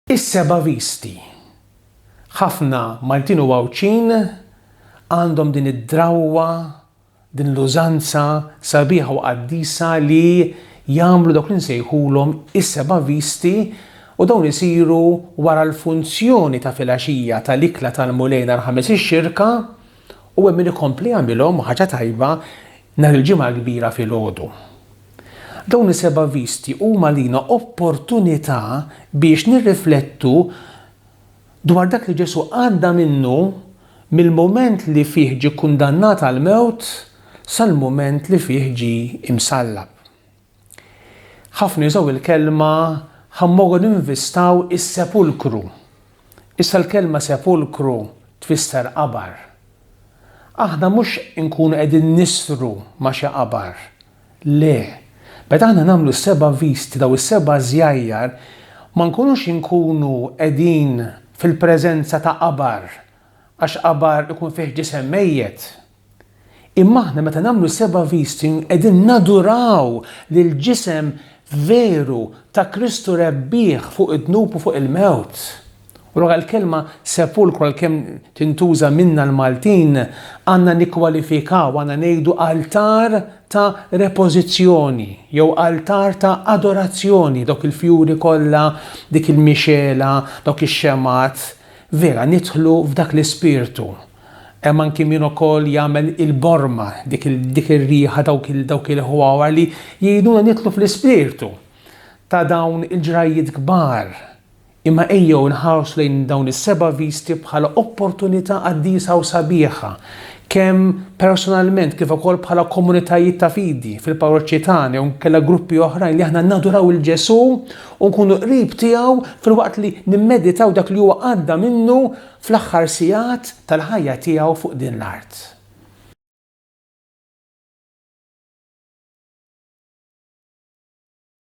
Is-Seba' Visti. Ħafna Maltin u Għawdxin għandhom din id-drawwa, din l-użanza sabiħa u qaddisa li jagħmlu dawk li nsejħulhom is-Seba' Visti u dawn isiru wara l-funzjoni ta' filgħaxija tal-Ikla tal-Mulej nhar Ħamis ix-Xirka u hemm min ikompli jagħmilhom, ħaġa tajba, Nhar il-Ġimgħa l-Kbira filgħodu. Dawn is-seba' visti huma għalina opportunità biex nirriflettu dwar dak li Ġesù għadda minnu mill-mument li fih ġie kkundannat għall-mewt sal-mument li fih ġie msallab. Ħafna jużaw il-kelma ħa mmorru ninvistaw is-sepulkru. Issa l-kelma sepulkru tfisser qabar. Aħna mhux inkunu qegħdin nisru ma' xi qabar. Le, meta aħna nagħmlu s-seba' visti daw is-seba' żjajjar ma nkunux inkunu qegħdin fil-preżenza ta' qabar għax qabar ikun fih ġisem mejjet. Imma aħna meta nagħmlu seba' visti qegħdin naduraw lill-ġisem veru ta' Kristu rebbieħ fuq id-dnub u fuq il-mewt. U allura l-kelma sepulkru għalkemm tintuża minna l-Maltin għandna nikkwalifikaw, għandna ngħidu altar ta' repożizzjoni jew altar ta' adorazzjoni, dawk il-fjuri kollha, dik il-mixgħela, dawk ix-xemgħat. Vera nidħlu f'dak l-ispirtu Hemm anki min ukoll jagħmel il-borma, dik il- dik ir-riħa, dawk il- dawk il-ħwawar li jgħinuna nidħlu fl-ispirtu ta' dawn il-ġrajjiet kbar. Imma ejjew inħarsu lejn dawn is-seba' visti bħala opportunità qaddisa u sabiħa, kemm personalment kif ukoll bħala komunitajiet ta' fidi fil-parroċċi tagħna jew inkella gruppi oħrajn li aħna naduraw il Ġesù u nkunu qrib tiegħu filwaqt li nimmeditaw dak li huwa għadda minnu fl-aħħar sigħat tal-ħajja tiegħu fuq din l-art.